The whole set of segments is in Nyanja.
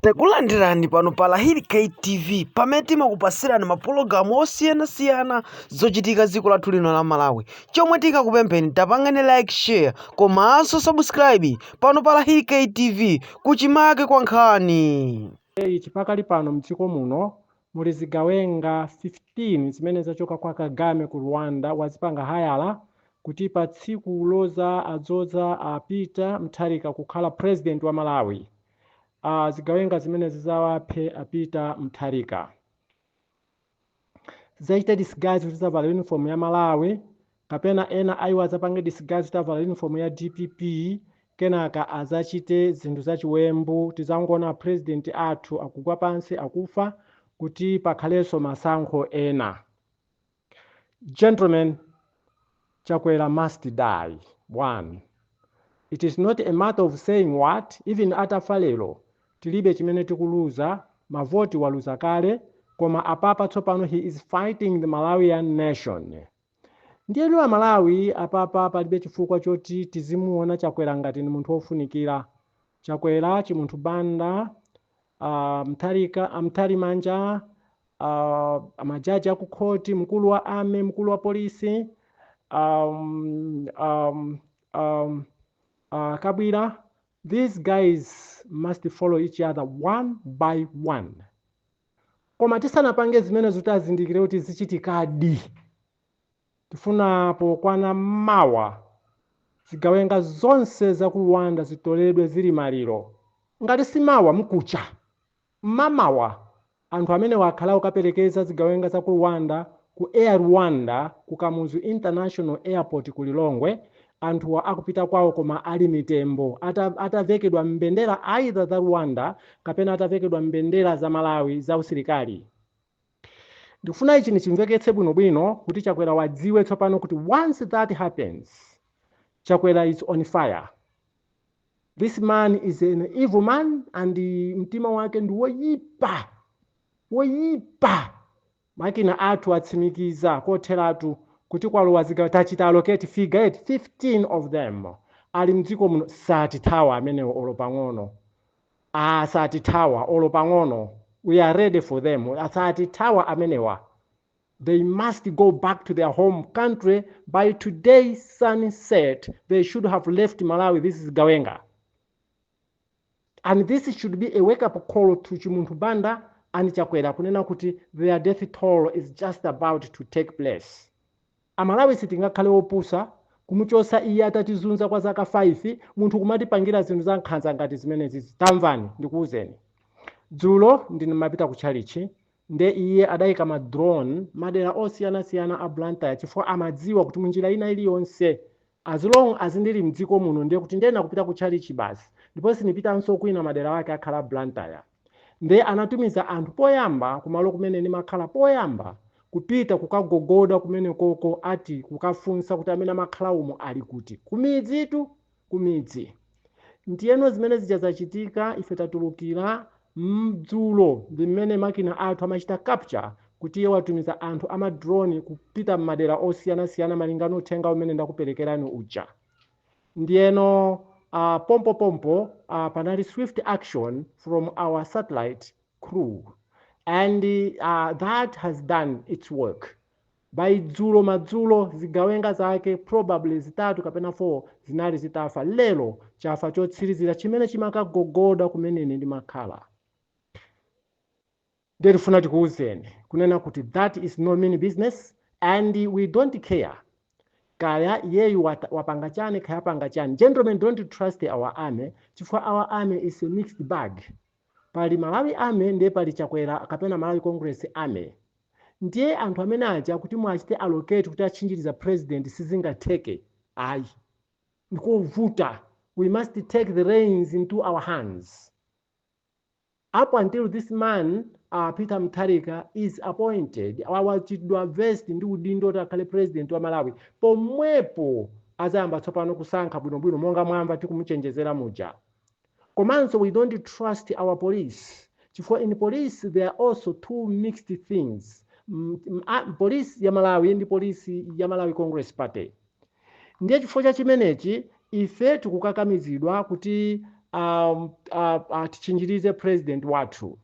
Takulandirani pano pa Lahiri K TV pamene timakupasirani mapulogalamu osiyanasiyana zochitika m'dziko lathu lino la Malawi. Chomwe tikakupempheni tapangani like share komanso subscribe pano pa Lahiri K TV kuchimake kwa nkhani. Hey, chipakali pano mdziko muno muli zigawenga 15 zimene zachoka kwa Kagame ku Rwanda wazipanga hayala kuti pa tsiku lodzadzoza a Peter Mutharika kukhala president wa Malawi. zigawenga zimenezi zizawaphe a Peter Mutharika zidzachite disguise kuti zavala uniform ya Malawi kapena ena a iwo adzapange disguise kuti avala uniform ya DPP kenaka azachite zinthu zachiwembu tizangoona president athu akugwa pansi akufa kuti pakhalenso masankho ena Gentlemen, Chakwera must die, one. It is not a matter of saying what, even atafa lero, tilibe chimene tikuluza, mavoti waluza kale, koma apapa tsopano he is fighting the Malawian nation. Ndiyeno Amalawi apapa palibe chifukwa choti tizimuona Chakwera ngati ni munthu wofunikira. Chakwera, Chimunthu Banda, uh, mayi a Mtalimanja, uh, majaji akukhoti mkulu wa army mkulu wa polisi um, um, um, uh, kabwira these guys must follow each other one by one koma tisanapange zimenezo kuti azindikire kuti zichitikadi tifuna pokwana mawa zigawenga zonse za ku rwanda zitoledwe zili maliro ngati si mawa mkucha Mmamawa, anthu amenewa akhala akukaperekeza zigawenga za ku Rwanda ku Air Rwanda ku Kamuzu International Airport ku Lilongwe, anthu akupita kwawo koma ali mitembo ata atavekedwa mbendera either za Rwanda kapena atavekedwa mbendera za Malawi za usilikali. Ndikufuna ichi nichimveketse bwino bwino kuti Chakwera adziwe tsopano kuti once that happens, Chakwera is on fire. this man is an evil man and mtima wake ndi woyipa woyipa makina athu atsimikiza kotheratu kuti kwalowa zigawenga tachita locate figure at 15 of them ali mdziko muno satithawa amenewo olo pang'ono ah satithawa olo pang'ono we are ready for them satithawa amenewa They must go back to their home country by today sunset. They should have left Malawi. This is Gawenga. And this should be a wake up call to Chimunthu Banda and Chakwera kunena kuti their death toll is just about to take place. Amalawi sitingakhale opusa kumuchosa iye atatizunza kwa zaka 5 munthu kumatipangira zinthu za nkhanza ngati zimenezi tamvani ndikuwuzeni dzulo ndinapita ku chalichi nde iye adaika ma drone madera osiyanasiyana a Blantyre chifukwa amadziwa kuti munjira ina iliyonse as long as ndili mdziko muno ndiye kuti ndiyenera kupita ku tchalitchi basi ndipo sindipitanso kwina madera ake akhala a Blantyre nde anatumiza anthu poyamba kumalo kumene ndimakhala poyamba kupita kukagogoda kumenekoko ati kukafunsa kuti amene amakhala umo ali kuti ku midzi. Ndiyeno zimene zija zachitika, ife tatulukira dzulo, ndi mmene makina athu amachita capture kuti iye watumiza anthu a ma drone kupita mmadera osiyanasiyana malinga ndi uthenga umene ndakuperekerani uja. Ndiyeno uh, pompopompo uh, panali swift action from our satellite crew and uh, that has done its work. By dzulo madzulo, zigawenga zake probably zitatu kapena 4 zinali zitafa. Lero, chafa chotsirizira chimene chimakagogoda kumene ine ndimakhala. Ndiye tifuna tikuuzeni, kunena kuti that is no mean business and we don't care kaya iyeyu wata- wapanga chani kaya apanga chani. Gentlemen, don't trust our army chifukwa our army is a mixed bag. Pali Malawi army ndiye pali Chakwera kapena Malawi Congress army. Ndiye anthu amene aja kuti muachite allocate kuti atchinjirize president sizingatheke ayi. Ndikovuta. We must take the reins into our hands up until this man uh, Peter Mutharika is appointed wachitidwa vest ndi udindo kuti akhale president wa Malawi pomwepo azayamba tsopano kusankha bwinobwino monga mwamva tikumuchenjezera muja Komanso we don't trust our police chifukwa in police there are also two mixed things M- m- a- police ya malawi ndi police ya malawi congress party ndiye chifukwa cha chimenechi ife tikukakamizidwa kuti um, uh, uh, tichinjirize president wathu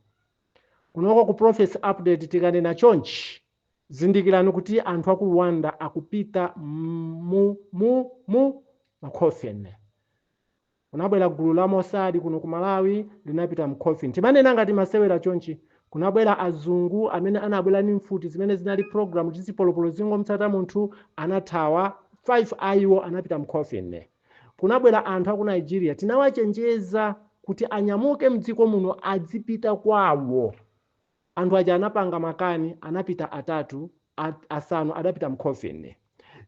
kunoko ku prophecy update tikanena chonchi zindikirani kuti anthu aku rwanda akupita mu, mu, mu ma coffin Kunabwera gulu la Mossad kuno ku Malawi, linapita mu coffin. Timanena ngati masewera chonchi. Kunabwera azungu amene anabwera ndi mfuti zimene zinali programmed kuti zipolopolo zingom'tsata munthu, anathawa, 5 a iwo anapita mu coffin. Kunabwera anthu a ku Nigeria. Tinawachenjeza kuti anyamuke m'dziko muno adzipita kwawo. Anthu aja anapanga makani, anapita atatu, a, asanu adapita mu coffin.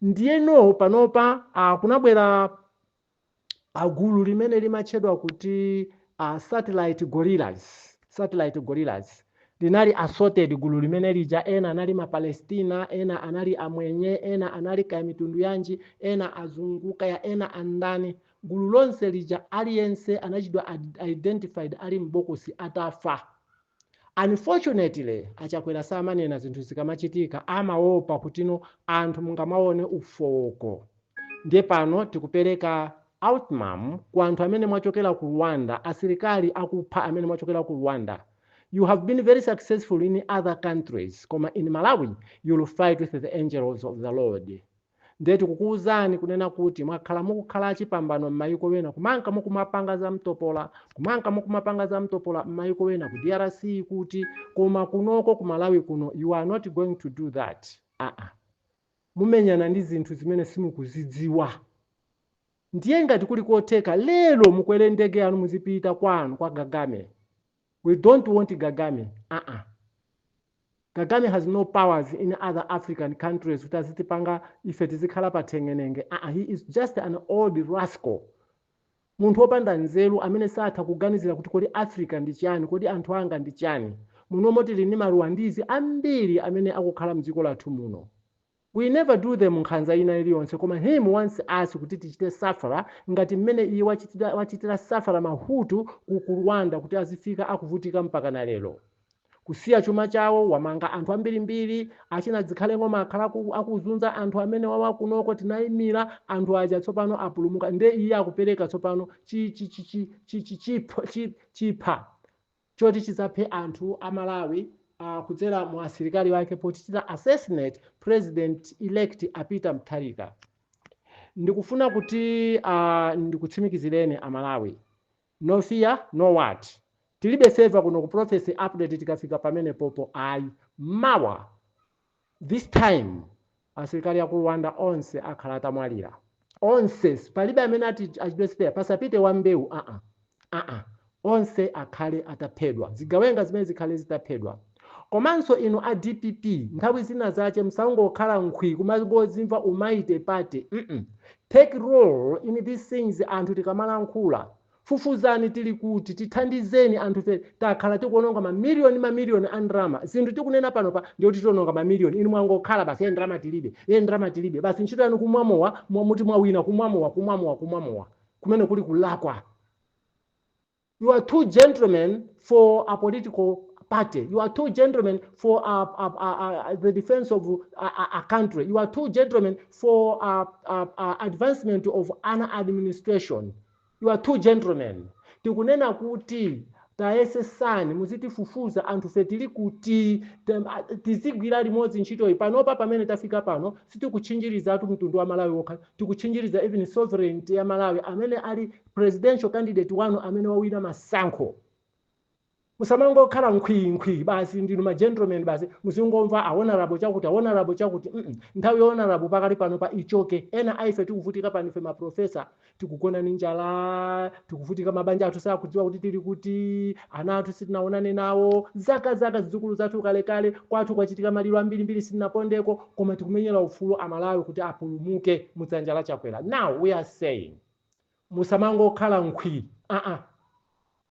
Ndiyeno panopa, a, kunabwera a gulu limene limatchedwa kuti a satellite gorillas satellite gorillas linali assorted gulu limene lija ena anali mapalestina ena anali amwenye ena anali kaya mitundu yanji ena azungu kaya ena andani gulu lonse lija aliyense anachitidwa ad- identified ali m'bokosi atafa Unfortunately a Chakwera samanena zinthu zikamachitika amaopa kutino anthu mungamaone ufooko ndiye pano tikupereka ultimatum kwa anthu amene mwachokera ku Rwanda asilikali akupha amene mwachokera ku Rwanda you have been very successful in other countries koma in Malawi you'll fight with the angels of the Lord Ndiye tikukuuzani kunena kuti mwakhala mukukhala chipambano m'mayiko ena kumanka mukumapanga zamtopola kumanka mukumapanga zamtopola m'mayiko ena ku drc kuti koma kunoko ku malawi kuno you are not going to do that aa mumenyana ndi zinthu zimene simukuzidziwa ndiye ngati kuli kotheka lero mukwere ndege yanu muzipita kwanu kwa kagame we dont want kagame aa kagame has no powers in other african countries kuti azitipanga ife tizikhala pa theng'enenge aa he is just an old rascal munthu wopanda nzeru amene satha kuganizira kuti kodi africa ndi chani kodi anthu anga ndi chani munomo tili ndi maruwandizi ambiri amene akukhala mdziko lathu muno We never do them nkhanza ina iliyonse koma him wants us kuti tichite suffer ngati mmene iye wachitira, wachitira suffer Mahutu ku ku Rwanda kuti azifika akuvutika mpakana lero kusiya chuma chawo wamanga anthu ambirimbiri achina Zikhale Ng'oma akhala aku, akuzunza anthu amene wawa kunoko tinayimira anthu aja tsopano apulumuka nde iye akupereka tsopano chi, chi, chi, chi, chi, chi, chipha, chi, chipha choti chidzaphe anthu a Malawi uh, kudzera mu asilikali wake potichita assassinate president elect a Peter Mutharika ndikufuna kuti uh, ndikutsimikizireni a Malawi no fear no what tilibe server kuno ku prophecy update tikafika pamenepopo ayi mawa This time asilikali aku Rwanda onse akhala atamwalira onse palibe amene ati achitidwe spare pasapite wa mbewu aa aa onse akhale ataphedwa zigawenga zimene zikhale zitaphedwa komanso inu a dpp nthawi zina zache musamangokhala nkhwi kumangozimva u mighty party mm take role in these things anthu tikamalankhula Fufuzani tili kuti, tithandizeni anthufe takhala tikuononga ma million ndi ma million a ndalama, zinthu tikunena panopa ndiye kuti tiononga ma million inu mwangokhala basi ee ndalama tilibe, ee ndalama tilibe basi ntchito yanu kumwa mowa mwa- muti mwawina kumwa mowa kumwa mowa kumwa mowa kumene kuli kulakwa you are too gentlemen for a political party you are too gentlemen for a, a, a, a, the defense of a, a, a country you are too gentlemen for a, a, a advancement of an administration You are too gentlemen. Tikunena kuti tayesesani muzitifufuza anthufe tili kuti tem- a- tizigwira limodzi ntchitoyi panopa pamene tafika pano sitikutchinjirizatu mtundu wa malawi wokha tikutchinjiriza even sovereignty ya malawi amene ali presidential candidate wanu amene wawina masankho musamangokhala nkhwii nkhwii basi ndinu ma gentleman basi muzingomva a honourable chakuti a honourable chakuti mm -mm. nthawi ya honourable pakali panopa ichoke ena aife tikuvutika pano ife maprofesa tikugona ni njala tikuvutika mabanja athu sakudziwa kuti tili kuti ana athu sitinaonane nawo zaka zaka zidzukulu zathu kalekale kwathu kwachitika maliro ambirimbiri sitinapondeko koma tikumenyera ufulu amalawi kuti apulumuke mudzanja la chakwera now we are saying musamangokhala nkhwii uh -uh.